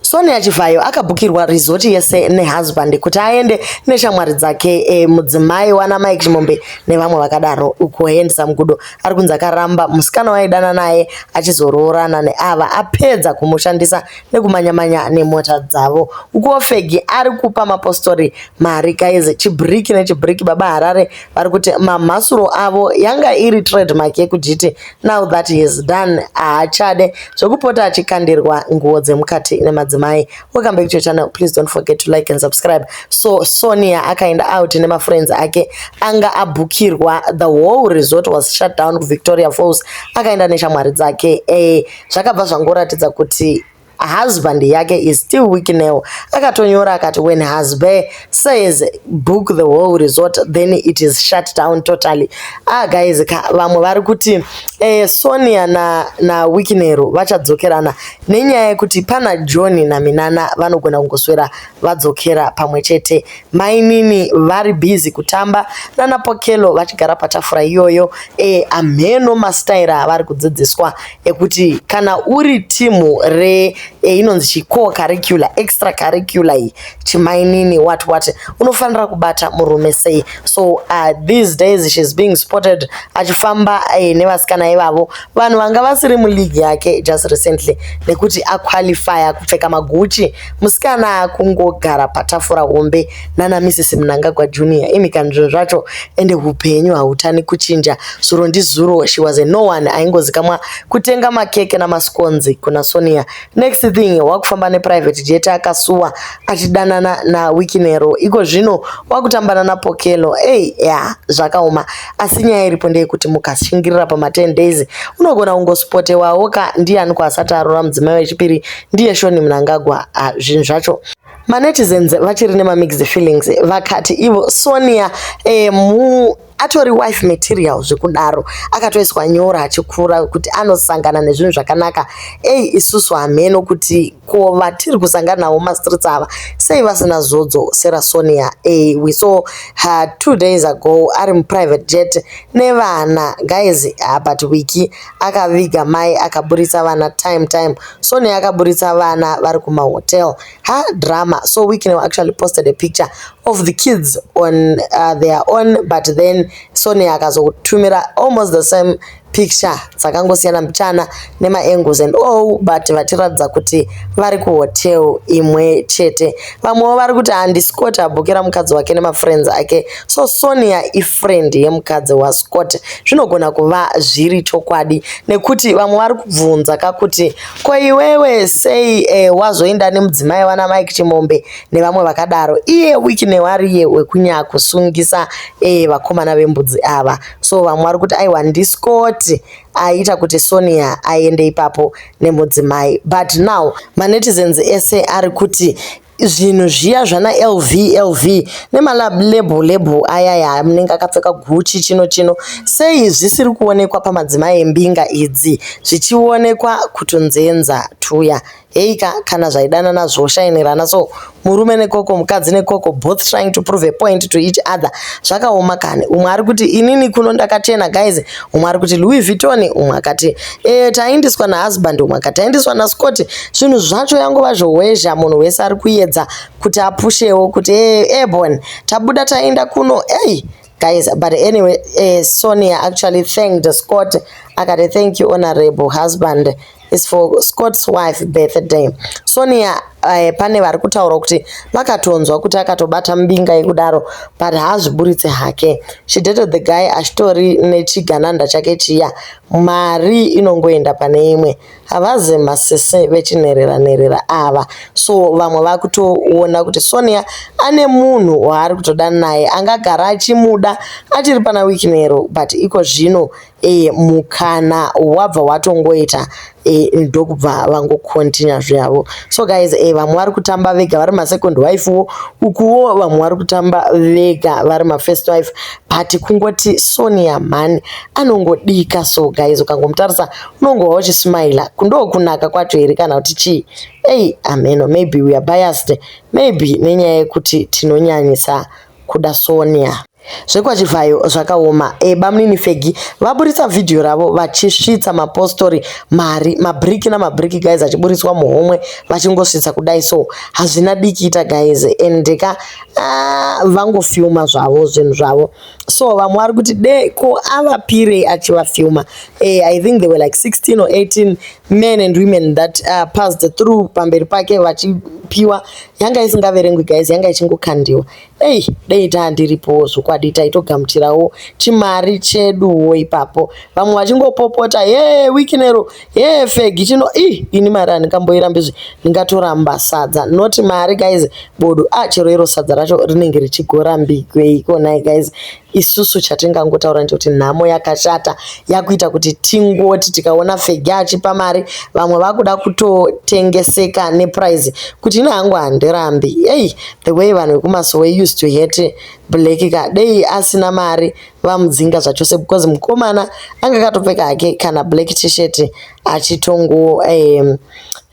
Sonia Chivhayo akabhukirwa resort yese nehusband kuti aende neshamwari dzake e, mudzimai wana Mike Chimombe nevamwe vakadaro uko handsome Gudo ari kunzi akaramba musikana waidana naye achizoroorana neava apedza kumushandisa nekumanyamanya nemota dzavo ukuwo Fegi ari kupa mapostori mari kaizi chibiriki nechibiriki baba Harare vari kuti mamhasuro avo yanga iri trademark yekujiti now that he is done haachade zvekupota achikandirwa nguo dzemukati nemadzimai welcome back to your channel please don't forget to like and subscribe so sonia akaenda out nemafriends ake anga abhukirwa the whole resort was shut down kuvictoria falls akaenda neshamwari dzake e, zvakabva zvangoratidza kuti husband yake is still weak now akatonyora akati when husband says book the whole resort then it is shut down totally ah guys ka vamwe vari kuti eh, sonia na, na wikinero vachadzokerana nenyaya yekuti pana john naminana vanogona kungoswera vadzokera pamwe chete mainini vari busy kutamba nana pokelo vachigara patafura iyoyo eh, amheno mastaira avari kudzidziswa ekuti kana uri timu re eh, inonzi chikoo curricular extra curricular iyi chimainini what what unofanira kubata murume sei so uh, these days she's being spotted achifamba eh, nevasikana ivavo vanhu vanga vasiri muleague yake just recently nekuti aqualifya kupfeka maguchi musikana kungogara patafura hombe nana Mrs Mnangagwa Junior imi kana zvinhu zvacho ende hupenyu hautani kuchinja zuro ndizuro she was a no one aingozikamwa kutenga makeke namaskonzi kuna Sonia next thing wakufamba neprivate jet akasuwa achidanana naWikinero iko zvino wakutambana napokelo hey, yeah, zvakaoma asi nyaya iripo ndeyekuti mukashingirira pama 10 days unogona kungospotewawo ka ndiani kwaasati arora mudzimai wechipiri ndiye Shoni Mnangagwa ah, zvinhu zvacho Manetizens vachiri nemamixed feelings vakati ivo Sonia eh, mu atori wife material zvekudaro akatoiswa nyora achikura kuti anosangana nezvinhu zvakanaka ei isusu hameno kuti ko vatiri kusangana navo mastreets ava sei vasina zodzo serasonia ei we saw her two days ago ari muprivate jet nevana guys ah, but wiki akaviga mai akaburitsa vana time time sony akaburitsa vana vari kumahotel ha drama so weeknow actually posted a picture of the kids on uh, their own but then sony akazotumira almost the same picture dzakangosiyana mbichana nemaangles and all but vatiratidza kuti vari kuhotel imwe chete Vamwewo vari kuti handi Scott abhukira mukadzi wake nemafriends ake so Sonia ifriend yemukadzi waScott. Zvinogona kuva zviri chokwadi nekuti vamwe vari kubvunza ka kuti ko iwewe sei eh, wazoenda nemudzimai wana Mike Chimombe nevamwe vakadaro. Iye Wikine wariye wekunyakusungisa eh, vakomana vembudzi ava. So vamwe vari kuti aiwa ndiScott aiita kuti sonia aende ipapo nemudzimai but now manetizens ese ari kuti zvinhu zviya zvana lv lv nemalabelebel lebel ayaya amunenge akapfeka guchi chino chino sei zvisiri kuonekwa pamadzimai embinga idzi zvichionekwa kutunzenza tuya Heika kana zvaidanana zvoshainirana so murume nekoko mukadzi nekoko both trying to prove a point to each other zvakaoma kani umwe ari kuti inini kuno ndakachena guys umwe ari kuti louis vitoni umwe akati e, taindiswa nahusband umwe akati taindiswa nascoti zvinhu zvacho yangova zvohwezha munhu wese ari kuyedza kuti apushewo kuti e, eh, ebon eh, tabuda taenda kuno ei guys but anyway uh, sonia actually thanked scott akati thank you honorable husband is for scott's wife birthday sonia uh, pane vari kutaura kuti vakatonzwa kuti akatobata mbinga yekudaro but haazviburitse hake she dated the guy achitori nechigananda chake chiya mari inongoenda pane imwe havaze masese vechinherera nherera ava so vamwe vakutoona kuti sonia ane munhu waari kutoda naye angagara achimuda achiri pana wikinero but iko zvino e, mukana wabva watongoita e, ndokubva vangokontinya zvavo so guys e, vamwe vari kutamba vega vari masecond wife wo ukuwo vamwe vari kutamba vega vari mafirst wife but kungoti sonia mhani anongodika so guys ukangomutarisa unongowa uchismaila kundoo kunaka kwacho here kana kuti chii ei ameno maybe we are biased maybe nenyaya yekuti tinonyanyisa kuda sonia zvekwachivhayo zvakaoma e, bamnini fegi vaburitsa vhidhiyo ravo vachisvitsa mapostori mari mabiriki namabiriki guys achiburitswa muhomwe vachingosvitsa kudai so hazvina dikiita guys and ka ah, vangofilma zvavo zvinhu zvavo so vamwe vari kuti de ko avapirei achivafilma eh, i think they were like 16 or 18 men and women that uh, passed through pamberi pake vachipiwa yanga isingaverengwi guys yanga ichingokandiwa ei dei taandiripowo zvokwadi taitogamuchirawo chimari cheduwo ipapo vamwe vachingopopota ye wikinero Hey fegi chino ih ini mari handingamboirambi zve ndingatoramba sadza not mari guys bodo ah chero iro sadza racho rinenge richigorambigwei konai guys isusu chatingangotaura ndechekuti nhamo yakashata yakuita kuti tingoti tikaona fegi achipa mari vamwe vakuda kutotengeseka neprize kuti ini hangu handirambi ei the way vanhu vekumasowe used to hate black ka dei asina mari vamudzinga zvachose because mukomana anga akatopfeka hake kana black t-shirt achitongo um,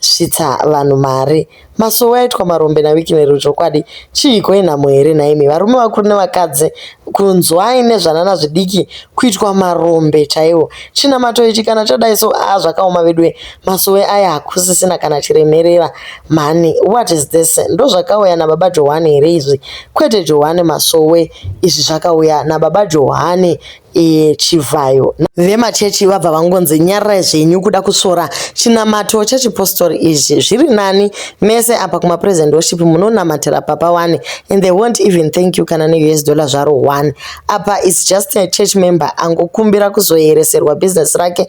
svitsa vanhu mari masowe aitwa marombe nawiki nero chokwadi chiiko inhamo here nhaimi varume vakuru nevakadzi kunzwai nezvanana zvidiki kuitwa marombe chaiwo chinamato ichi kana chadai so a ah, zvakaoma vedue masowe aya hakusisina kana chiremerera mhani what is this ndozvakauya nababa johani here izvi kwete johani masowe izvi zvakauya nababa johani e, chivhayo vemachechi vabva vangonzi nyararai zvenyu kuda kusvora chinamato chechipostori izvi zviri nani mese apa kumapresent worship munonamatira papa wani and they won't even thank you kana neus dollar zvaro one apa is just a church member angokumbira kuzoyereserwa business rake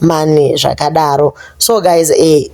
mhani zvakadaro so guys eh,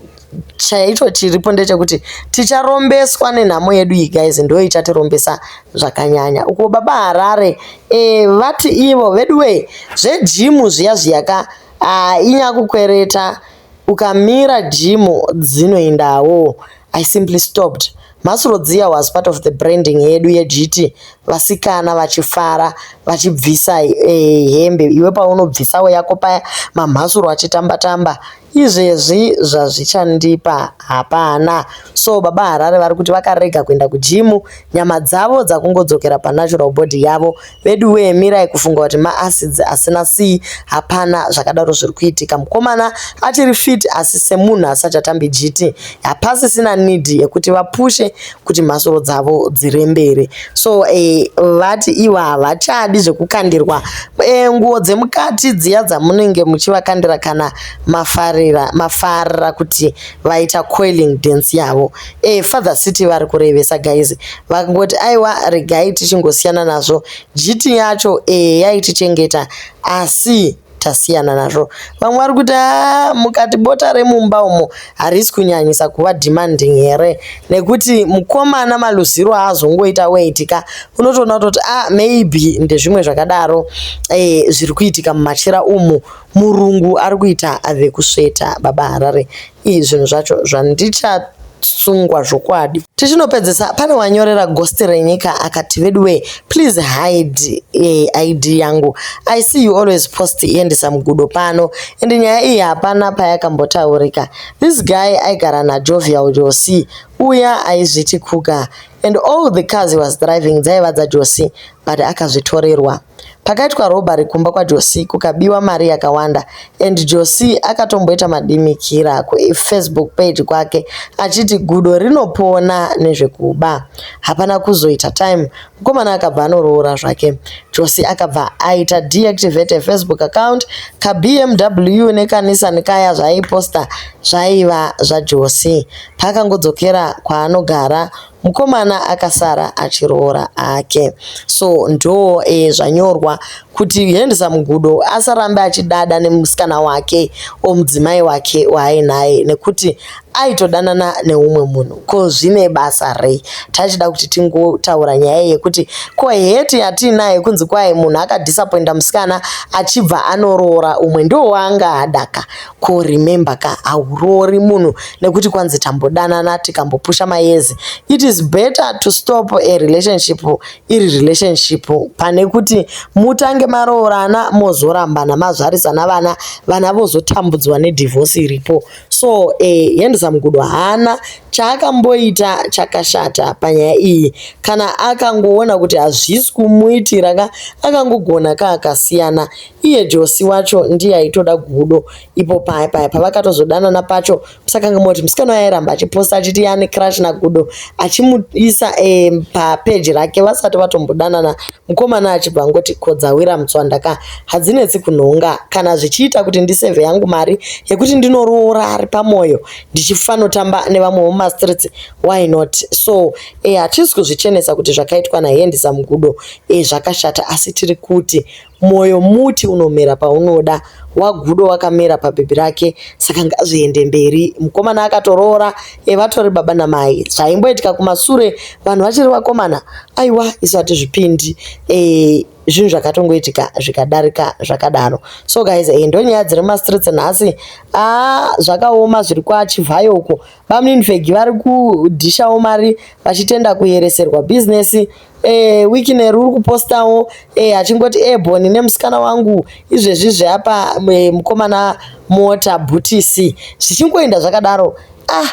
chaicho chiripo ndechekuti ticharombeswa nenhamo yedu iyi guys ndo ichatirombesa zvakanyanya uko baba harare e, vati ivo veduwee zvejimu zviya zviyaka ah, inyakukwereta ukamira jimu dzinoindawo I simply stopped. Mhasuro dziya was part of the branding yedu yeGT. Vasikana vachifara vachibvisa eh, hembe iwe paunobvisawo yako paya mamhasuro achitamba tamba. Izvezvi zvazvichandipa hapana. So baba Harare vari kuti vakarega kuenda kujimu, nyama dzavo dzakungodzokera panatural body yavo Veduwee mirai kufunga kuti maacids asina Cee hapana zvakadaro zviri kuitika. Mukomana achiri fit asi semunhu asati atambi jiti hapasisina need yekuti vapushe kuti mhasuro dzavo dzirembere. So eh, vati ivo havachadi zvekukandirwa eh, nguwo dzemukati dziya dzamunenge muchivakandira kana mafarira, mafarira kuti vaita coiling dance yavo. eh father city vari kurevesa guys vakangoti aiwa regai tichingosiyana nazvo jiti yacho eh yaitichengeta asi tasiyana nazvo vamwe vari kuti ah, mukati bota remumba umo harisi kunyanyisa kuva demanding here nekuti mukomana maluziro aazongoita weitika unotoona kutoti a ah, maybe ndezvimwe zvakadaro e, zviri kuitika mumachira umu murungu ari kuita vekusveta baba harare ii zvinhu zvacho zvandichatosungwa zvokwadi tichinopedzisa pane wanyorera ghost renyika akati veduwee please hide eh, id yangu i see you always post iendesa mugudo pano and nyaya iyi hapana payakambotaurika this guy aigara najovial josi uya aizviti kuga and all the cars he was driving dzaiva dzajosi but akazvitorerwa Pakaitwa robbery kumba kwaJosi kukabiwa mari yakawanda and Josi akatomboita madimikira kuFacebook page kwake achiti gudo rinopona nezvekuba. Hapana kuzoita time mukomana akabva anoroora zvake. Josi akabva aita deactivate Facebook account kaBMW nekaNissan kaya zvaaiposta zvaiva zvaJosi. Paakangodzokera kwaanogara mukomana akasara achiroora ake so ndo e, zvanyorwa kuti handsome gudo asarambe achidada nemusikana wake o mudzimai wake waainaye nekuti aitodanana neumwe munhu ko zvine basa rei tachida kuti tingotaura nyaya yekuti ko heti yatiinayo kunzi kwaye munhu akadhisapoinda musikana achibva anoroora umwe ndo waanga adaka Ko remember ka hauroori munhu nekuti kwanzi tambodanana tikambopusha mayezi. It is better to stop a relationship iri relationship pane kuti mutange maroorana mozorambana mazvarisana vana vana vozotambudzwa nedivorce iripo. So eh, handsome gudo haana chaakamboita chakashata panyaya iyi kana akangoona kuti hazvisi kumuitira ka akangogona ka akasiyana iye Josi wacho ndiye aitoda gudo ipo paya paya pavakatozodanana pacho musakanga moti musikana waye airamba achiposta achiti yaane crush nagudo achimuisa e, papeji rake vasati vatombodanana mukomana achibva ngoti kodzawira mutswanda ka hadzinetsi kunhonga kana zvichiita kuti ndisevhe yangu mari yekuti ndinoroora ari pamwoyo ndichifanotamba nevamwewo mumastreets why not so e, hatisi kuzvichenesa kuti zvakaitwa naye ndisamugudo e, zvakashata asi tiri kuti Moyo muti unomera paunoda. WaGudo wakamera pababy rake saka ngazviende mberi. Mukomana akatoroora evatori baba namai. Zvaimboitika kumasure vanhu vachiri vakomana aiwa isu hatizvipindi. Eh zvinhu zvakatongoitika zvikadarika zvakadaro. So guys eh ndonyaya dziri mumastreets nhasi. Ah zvakaoma zviri kwaChivhayo uko. Bamninfegi vari kudhishawo mari vachitenda kuyereserwa business Eh, Wickner uri kupostawo eh, achingoti Airborne eh, nemusikana wangu izvezvi zveapa eh, mukomana mota butisi zvichingoenda zvakadaro ah,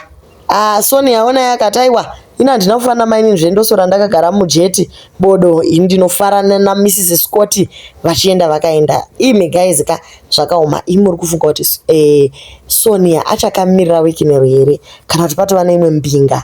ah, soni yaona yakati aiwa ini handina kufanira mainin zvendosora ndakagara mujeti bodo ini ndinofarana namrs scott vachienda vakaenda imi guys ka zvakaoma imi muri kufunga kuti eh, sonia achakamirira wikinero here kana kuti patova neimwe mbinga